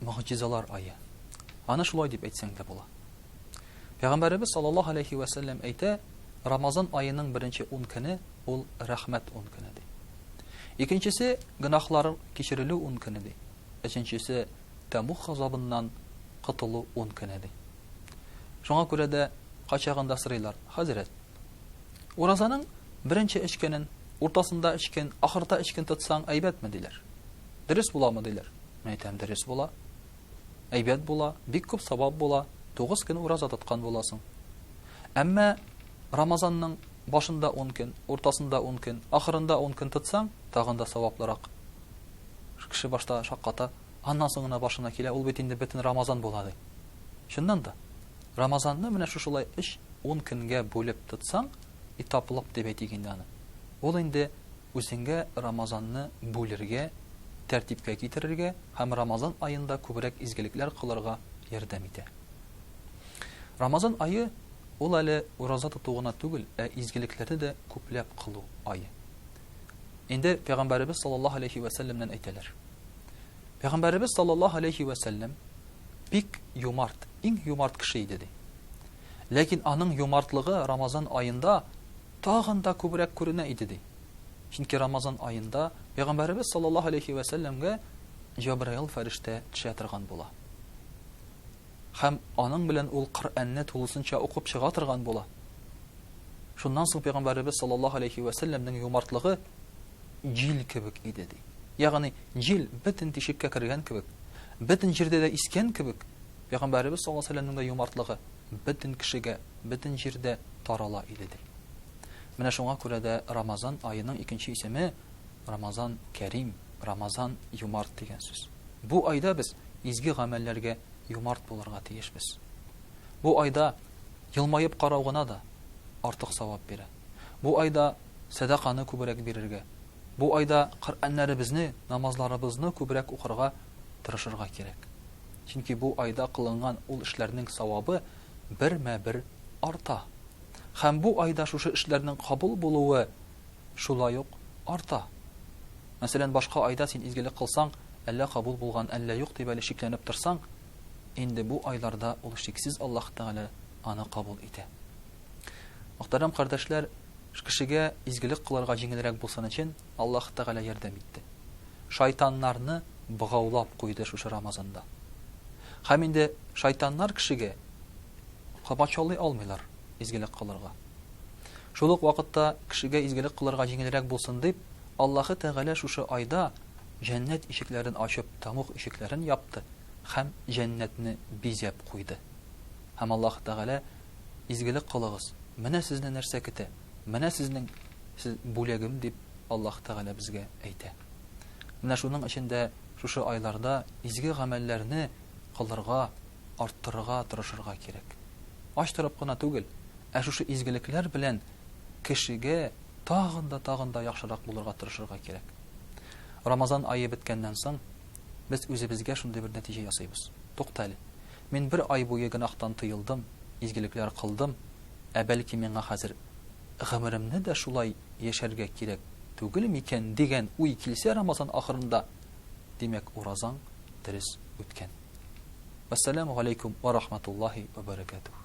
Могҗизалар ае. Аны шулай дип әйтсәң дә була. Пәйгамбәребез саллаллаһу алейхи ва сәлләм әйтә, Рамазан аеның беренче 10 көне ул рәхмәт 10 көне ди. Икенчесе гөнаһлар кичерелү 10 көне ди. Өченчесе тәмух газабыннан котылу 10 көне ди. Шуңа күрә дә качагында сырыйлар, хәзрәт. Уразаның беренче эш көнен, уртасында эш көн, ахырда эш көн тотсаң әйбәтме диләр. Дөрес буламы диләр. Мин әйтәм, дөрес була. Әйбәт була, бик күп савап була, тугыз көн ураза тоткан буласың. Әмма Рамазанның башында ун көн, уртасында ун көн, ахырында ун көн тотсаң, тагын да саваплырак. Кеше башта шакката, аннан соң гына башына килә, ул бит инде бөтен Рамазан була ди. Чыннан да, Рамазанны менә шушылай өч, ун көнгә бүлеп тотсаң, итаплык дип әйтик инде аны. Ул инде Үзеңә Рамазанны бүлергә, тәртипкә китерергә һәм Рамазан аенда күбрәк изгелекләр кылырга ярдәм итә. Рамазан ае, ул әле ураза тоту гына түгел, ә изгелекләрне дә күпләп кылу ае. Инде Пәйгамбәребез саллаллаһу алейһи вә сәлләмнән әйтәләр. Пәйгамбәребез саллаллаһу алейһи вә сәлләм бик юмарт, иң юмарт кеше иде, ди. Ләкин аның юмартлыгы Рамазан аенда тагын да күбрәк күренә иде, ди. Чөнки Рамазан аенда Пәйгамбәребез саллаллаһу галәйһи вә сәлләмгә Җәбраил фәрештә төшә торган була. Һәм аның белән ул Коръәнне тулысынча укып чыга торган була. Шуннан соң Пәйгамбәребез саллаллаһу галәйһи вә сәлләмнең юмартлыгы җил кебек иде, ди. Ягъни, җил бөтен тишеккә кергән кебек, бөтен җирдә дә искән кебек, Пәйгамбәребез саллаллаһу галәйһи вә сәлләмнең дә юмартлыгы. бөтен кешегә, бөтен җирдә тарала иде, ди. Менә шуңа күрә дә Рамазан аеның икенче исеме, Рамазан кәрим, Рамазан юмарт дигән сүз. Бу айда без изге гамәлләргә юмарт булырга тиешбез. Бу айда елмаеп карау гына да артык савап бирә. Бу айда сәдаканы күбрәк бирергә, бу айда Коръәннәребезне, намазларыбызны күбрәк укырга тырышырга кирәк. Чөнки бу айда кылынган ул эшләрнең савабы бермә-бер арта. Һәм бу айда шушы эшләрнең кабул булуы шулай ук арта. Мәсәлән, башка айда син изгелек кылсаң, әллә кабул булган, әллә юк дип әле шикләнеп торсаң, инде бу айларда ул шиксез Аллаһ Тәгалә аны кабул итә. Мөхтәрәм кардәшләр, кешегә изгелек кылырга җиңелрәк булсын өчен, Аллаһ Тәгалә ярдәм итте. Шайтаннарны богаулап куйды шушы Рамазанда. Һәм инде шайтаннар кешегә комачаулый алмыйлар изгелек кылырга. Шул ук вакытта кешегә изгелек кылырга җиңелрәк булсын дип, Аллаһы Тәгалә шушы айда җәннәт ишекләрен ачып тамук ишекләрен япты һәм җәннәтне бизәп куйды. Һәм Аллаһ Тәгалә, Изгелек кылыгыз, менә сезне нәрсә көтә. Менә сезнең сез бүләгем, дип Аллаһ Тәгалә безгә әйтә. Менә шуның өчен дә шушы айларда изге гамәлләрне кылырга, арттырырга тырышырга кирәк. Ач торып кына түгел, ә шушы изгелекләр белән кешегә тагын да, тагын да яхшырак булырга тырышырга кирәк. Рамазан ае беткәннән соң, без үзебезгә шундый бер нәтиҗә ясыйбыз. Тукта әле. Мин бер ай буе гөнаһтан тыелдым, изгелекләр кылдым, Ә бәлки миңа хәзер гомеремне дә шулай яшәргә кирәк түгел микән дигән уй килсә Рамазан ахырында, димәк уразаң дөрес үткән. Вәссәламү галәйкүм вә рахматуллаһи вә бәрәкәтүһ.